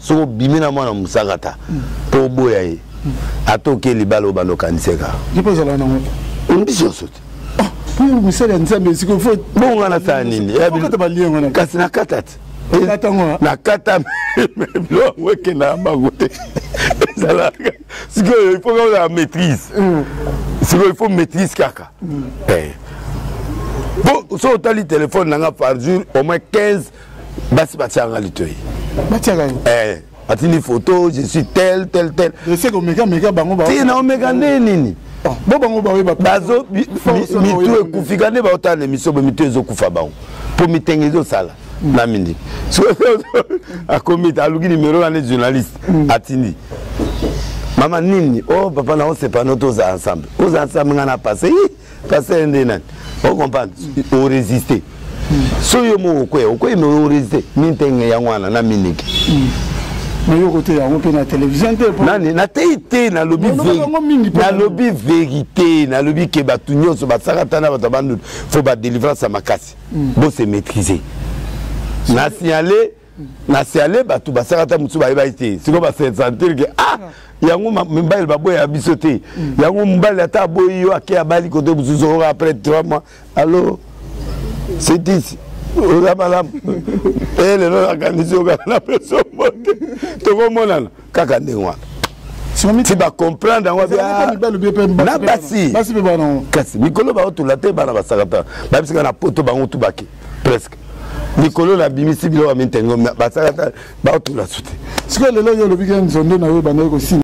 soki obimi na mwana mosakata mpo oboya ye ata oke libala obanda okaniseka mbisi nyonso te misala ya nzambe esika fo bonga na sala nini kasi nakata te nakata biloko yango ekenda ya bango te ezalaka sikoyo il faut kozala maîtrise mm. sikoyo il faut maîtrise kaka mm. eh. soki otali telefone na nga par jour au moins 15 basi batiaka nga litoi batiaka yo eh, batindi photo je suis tel tel tel eseke omeka meka bango ti na omeka nde nini ah, bo bango baoyeba bazo mitu ekufika nde baotala na emission bo mitu ezokufa bango mpo mitenge ezosala mm. na mindi akomi aluki nimero wana journaliste mm. atindi mama nini o oh, papa na osepana oto oza ensemble oza ensemble ngai na passe pasteur nde nani o comprendre o résister so yo moko okweya okweyi me o résister mintenge yango wana na miniki nayoko te yango mpe na télévision te nani nateyi te nalobi nalobi vérité nalobi ke bato nyonso basakata na bato ya bandutu fo badelivrance ya makasi hmm. bose maîtrise na signale na siale bato basaka ata mosusu bayebaki te sikoyo basensantir ke ah yango mibali baboya biso te mm. yango mobali ata aboyi yo ake abali kote mosusu oyo après trois mois allo cetisi oza malamu e eh, lelo nakanisi okaka na peso mote tokomonana kaka ndenge wana ti bacomprendre yango ah, na basi kasi mikolo baotula te bana basakata babisika na poto bango tubake presque likolo na bimisi biloko ya mitengo basala batula su te sikoyo lelo yo olobi ke nzondo na yo ebandaki kosila